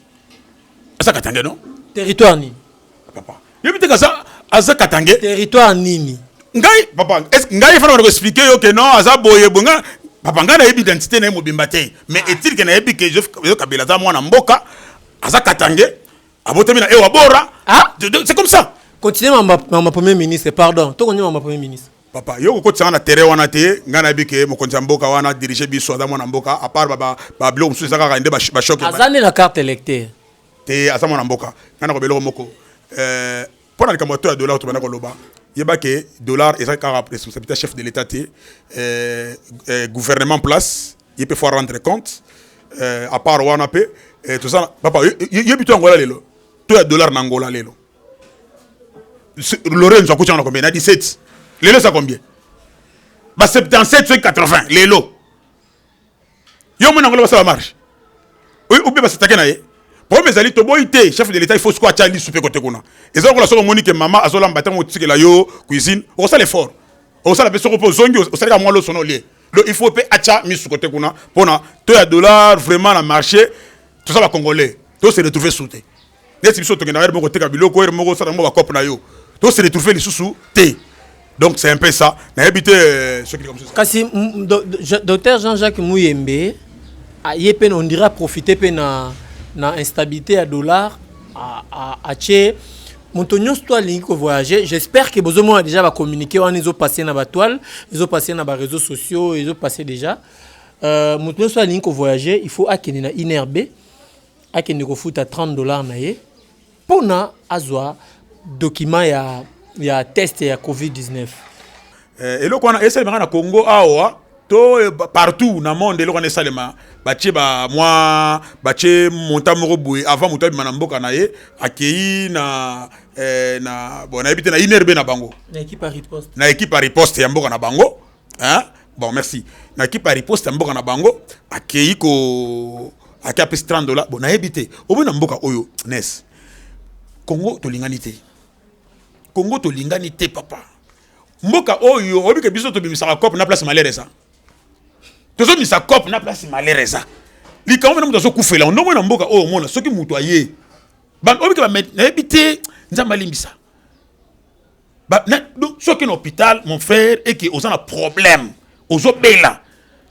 aza katange non territoire nini Papa, yebi te kaza aza katange. Territoire nini? Ngai papa, est-ce que ngai fana ko expliquer yo que non aza boye bonga papa ngai nayebi identité na ye mobimba te mais ah. est-il que nayebi que Joseph Kabila aza mwana mboka aza katange abotami na ewa bora ah? c'est comme ça continue mama, mama premier ministre pardon tokondi mama premier ministre papa yo kokotisanga na terrain wana te ngai nayebi ke mokonzi ya mboka wana dirige biso aza mwana mboka apart babiloko mosusu eza kaka nde bachoke aza nde na carte électeur te aza mwana mboka ngai nakoba eloko moko eh, mpo na likambo ya to ya dollar tobanda koloba yeba ke dollar eza kaka responsabilité chef de l'état te eh, eh, gouvernement place ye mpe faut rendre compte à part wana mpe toza papa yebi to angola lelo to ya dollar na angola lelo lorenzo akuti yango na combien na 17 lelo eza combien ba 77 soki 80 lelo yo omona yango basala marche obe basatake na ye problème ezali toboyi te chef de l'état il faut sikoyo atya lisu mpe kote kuna eza lokola soki omoni ke mama azolamba ntango otikela yo cuisine okosala effort okosala mpe soko mpe ozongi osalaka mwa losono olie donc il faut mpe atya misu kote kuna mpona to ya dollar vraiment na marché toza bacongolais to se retrouve sute neti biso tokenda heure moko teka biloko heure moko osala yango bacope na yo to se retrouve lisusu te donc c'est un peu ça nayebi te euh, soki likambo kasi docteur jean jacques muyembe ye mpe on dirait aprofite mpe na, na instabilité ya dollar atie moto nyonso to alingi kovoyage j'espère que bozomona déjà bacommuniqué wana ezopasse na batoile ezopasse na baréseau sociaux ezopasse déjà euh, moto nyonso alingi kovoyage il faut akende na inerbe akende kofuta 30 dollars na ye pona azwa document ya, ya test ya covid-19 eh, eloko wana esalemaka na congo awa to eh, partout na monde eloko wana esalema batie ba mwa batie monta moko boye avant moto abima na mboka na ye akei na eh, na bon nayebi te na inerbe na bango na ekipe ya riposte ya mboka na bango hein bon merci na kipe ya riposte ya mboka na bango akei ko ake apesi 30 dollars bon nayebi te oboyi na mboka oyo nes kongo tolingani te kongo tolingani te papa mboka oyo oyebi ke biso tobimisaka cope na place malere eza tozobimisa cope na place malere eza likambo mena moto azokufela ndongo na mboka oyo omona soki moto aye oyebi ke nayebi te nzambe alimbisa ba na donc soki na hôpital mon frère et que oza na problème ozo bela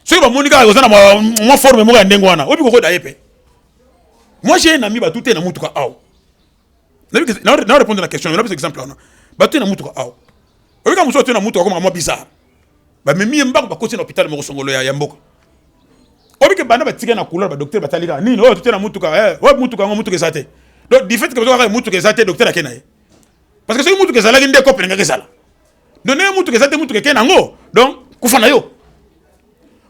soki ba moni kaka oza na mwa forme moko ya ndenge wana obi kokoda ye pe moi j'ai un ami ba tute na mutuka awa na na répondre na question na pesa exemple wana ba tute na mutuka awa obi ka muso tute na mutuka koma mwa bizarre ba memi mbako ba koti na hôpital moko songolo ya, ya mboka obi ke bana ba tika na couleur ba docteur batali ka nini oyo tute na mutuka eh oyo mutuka ngo mutuka ezate donc du fait que ba kaka mutuka ezate docteur akena ye parce que soki mutuka ezalaki nde kope elingaki ezala no ndenge mutuka eza te mutuka ekei nango donc kufa na yo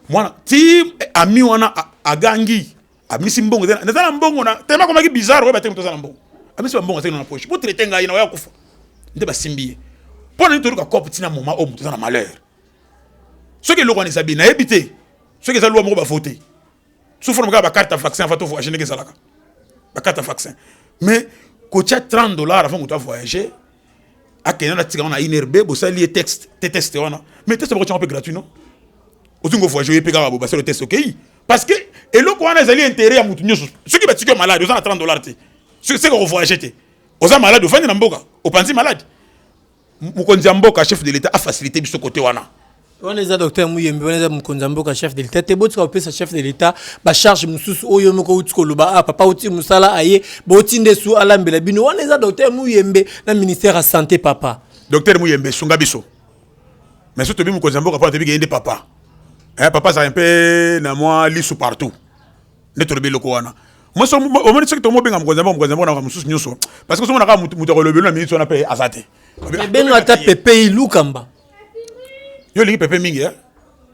mwana ti eh, ami wana agangi amisi mbongo eza na mbongo na tellement akomaki bizarre oyo bateki moto aza na mbongo amisi bambongo azali na poche po traite ngai na oya kufa nde basimbi ye mpo na nini toluka cope ntina moma oyo moto eza na malheur soki eloko wana eza bien nayebi te soki eza lwa moko bavote so fona kaka bakarte ya vaccin avant to voyage ndenge ezalaka bakarte ya vaccin mais kotya 30 dollars avant moto avoyage akenda na tika wana inrb bosali ye texte te teste wana mais teste bakotyango mpe gratuit no ozi ngo voyage oye mpe kaka bobasalo teste okei parce que eloko wana ezali intérêt ya moto nyonso soki batiki yo malade oza na 30 dollars te seka kovoyage te oza malade ofandi na mboka opanzi malade Mokonzi ya mboka chef de l'etat a faciliter biso côté wana. wana eza docteur muyembe wana eza mokonzi ya mboka chef de l'état te botika kopesa chef de l'état bacharge mosusu oyo moko outi koloba ah papa outi mosala aye boti nde su alambela bino wana eza docteur muyembe na ministère ya santé papa docteur muyembe sunga biso mais so tobi mokonzi ya mboka mpona tobi keyende papa eh, papa azalaka mpe na mwa lisu partout nde tolobi eloko wana omoni soki tomobenga mokonzi yango mokonzi yango na mosusu nyonso parce que somonaka moto akolobelo na miniti wana mpe aza te ebenga ata pepe ilukamba yo olingi pepe mingi eh?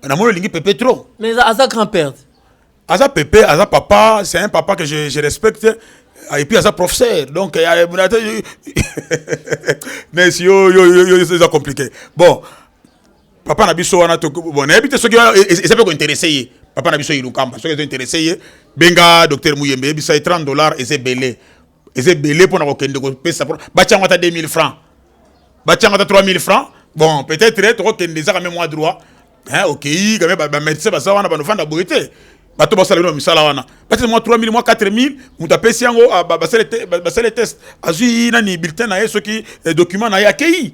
namoni olingi pepe trop mais aza grand père aza pepe aza papa c'est un papa que je, je respecte ah, et puis aza professeur donc euh, mais yo yo yo eza compliqué bon papa na biso wana bon nayebi te soki eza mpe kointeresse ye papa na biso ilukamba soki ezo interesse ye benga docteur muyembe yebisa ye 30 dollars eza ebele eza ebele mpo na kokende kopesa batya yango ata 2000 francs batya yango ata 3000 francs bon peut-être tokokende ezaka meme mwa droit okei kame bamédecin baza wana banofanda boye te bato basala bino misala wana batya mwa 3000 mwa 4000 moto apesi yango basale test azwi nani bulletin na ye soki eh, document na ye akei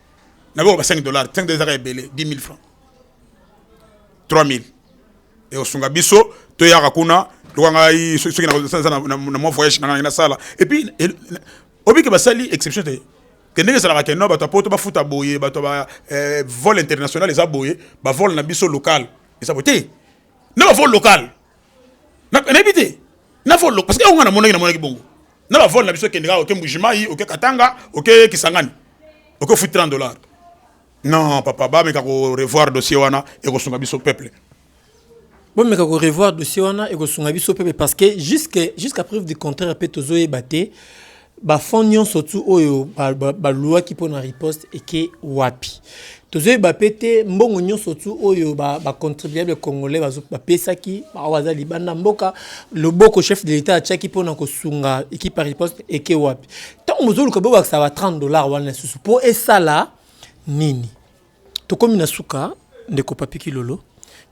na boko ba 5 dollars 5 dollars ezaka ebele 10000 francs 3000 et osunga biso to yaka kuna loka ngai soki na na na na mon voyage na ngai na sala et puis obi ke basali exception te ke ndenge ezalaka ke no bato ya poto bafuta boye bato ba eh, vol international eza boye bavole na biso local eza boye te na bavole local nayebi te nafolo parce que yango nga namonaki namonaki bongo na bavole na biso ekendeka oke mbujimai oke katanga oke kisangani oke ofuti 30 dollar non papa bameka korevoir dossier wana ekosunga biso peuple bomeka korevoir dossier wana ekosunga biso peuple parce que jusqu'à preuve du contraire mpe tozoyeba te Ba fonds nionso tout oyo ba louaki pona riposte eke wapi? Tozo yeba pe te mbongo nionso tout oyo ba contribuables congolais ba pesaki oyo baza libanda ya mboka loboko chef de l'etat atiaki pona ko sunga equipe ya riposte eke wapi? Tango bozo luka bo bakisa ba 30 dollars wana lisusu po esala nini? Tokomi na suka ndeko Papy Kilolo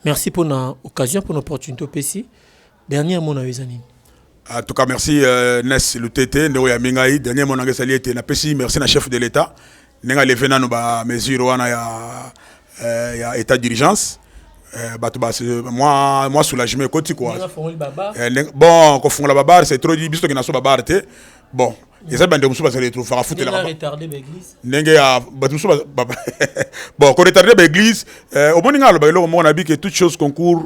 merci pona occasion pona opportunite opesi. Dernier mot na yo eza nini? En tout cas merci euh, Nes Lutete ndeko ya mingai dernier mot na ngai ezali ete napesi merci na chef de l'etat ndenge aleve nano ba mesure wana ya, euh, ya état d'urgence euh, bato ba mwa mwa soulagement ekoti kua euh, bon kofungola babare c'est trop biso tokenda so babare te bon eza bandeko mosusu bazali etrofaka futelaka ndenge ya bato mosusu bon koretarde baeglise omoni ngai aloba eloko moko na bike toute chose concours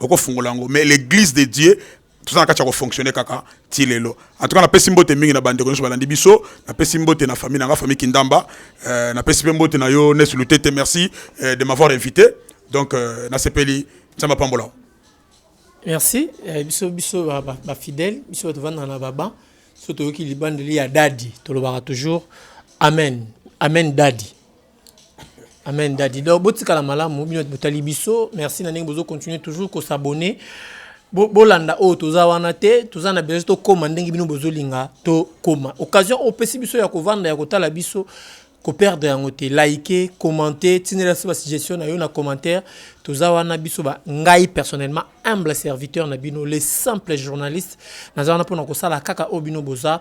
okofungola yango mais l'église de dieu toza na kati ya kofonctionne kaka ti lelo en tout cas napesi mbote mingi na bandeko nyonso balandi biso napesi mbote na famille na nga famille kindamba euh, napesi mpe mbote na yo nes lutete merci euh, de m'avoir invité donc euh, nasepeli nzambe apambola merci eh, biso biso bafidèle ba, ba biso bato vandana na baba so toyoki libandeli ya dadi tolobaka toujours amen amen dadi Amen daddy. Donc botikala malamu bino botali biso. Merci na ndenge bozo continuer toujours ko s'abonner. Bo bolanda oyo toza wana te, toza na besoin to koma ndenge bino bozo linga to koma. Occasion opesi biso ya kovanda ya kotala biso ko perdre yango te. Liker, commenter, tinela biso ba suggestion na yo na commentaire. Toza wana biso ba ngai personnellement humble serviteur na bino, le simple journaliste. Naza wana pona kosala kaka oyo bino boza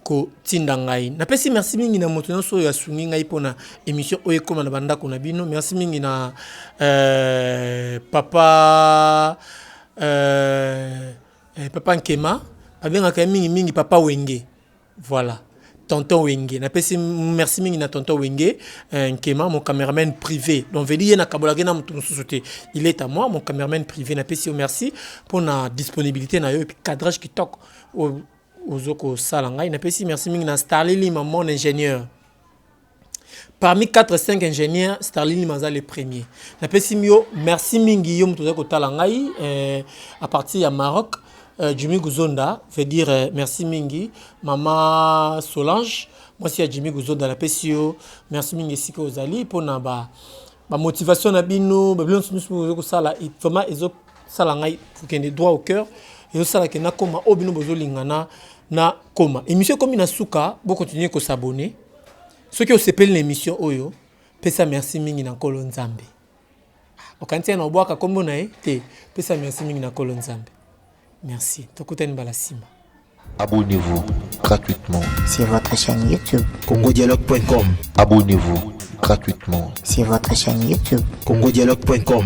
kotinda ngai. Napesi merci mingi na moto nyonso oyo asungi ngai mpo na émission oyo ekoma na bandako na bino. Merci mingi na euh, papa euh, eh, papa Nkema babengaka ye mingi mingi papa Wenge. Voilà. tonton wenge napesi merci mingi na tonton wenge euh, nkema mon cameraman privé donc veli ye nakabolaki na moto mosusu te il est à moi mon cameraman privé napesi yo merci mpo na disponibilité na yo epi cadrage kitoko ozo kosala ngai napesi merci mingi na starli lima mon ingénieur parmi 4 5 ingénieur starli lima aza le premier napesi yo merci mingi yo moto ozali kotala ngai eh, à partir ya maroc eh, jimmy guzonda veut dire eh, merci mingi mama solange mwasi ya jimmy guzonda napesi yo merci mingi esika ozali mpo na ba bamotivation na bino babilo nyonso nyonso ozo kosala vraiment ezo sala ngai kokende droit au cœur ezosala ke nakoma oyo bino bozolingana na koma émission ekomi na suka bokontinue kosabone soki osepeli na émission oyo pesa merci mingi na nkolo nzambe okanisi na obwaka nkombo na ye te pesa merci mingi na nkolo nzambe merci tokutani mbala nsima abonnez-vous gratuitement sur votre chaîne youtube congodialogue.com abonnez-vous gratuitement sur votre chaîne youtube congodialogue.com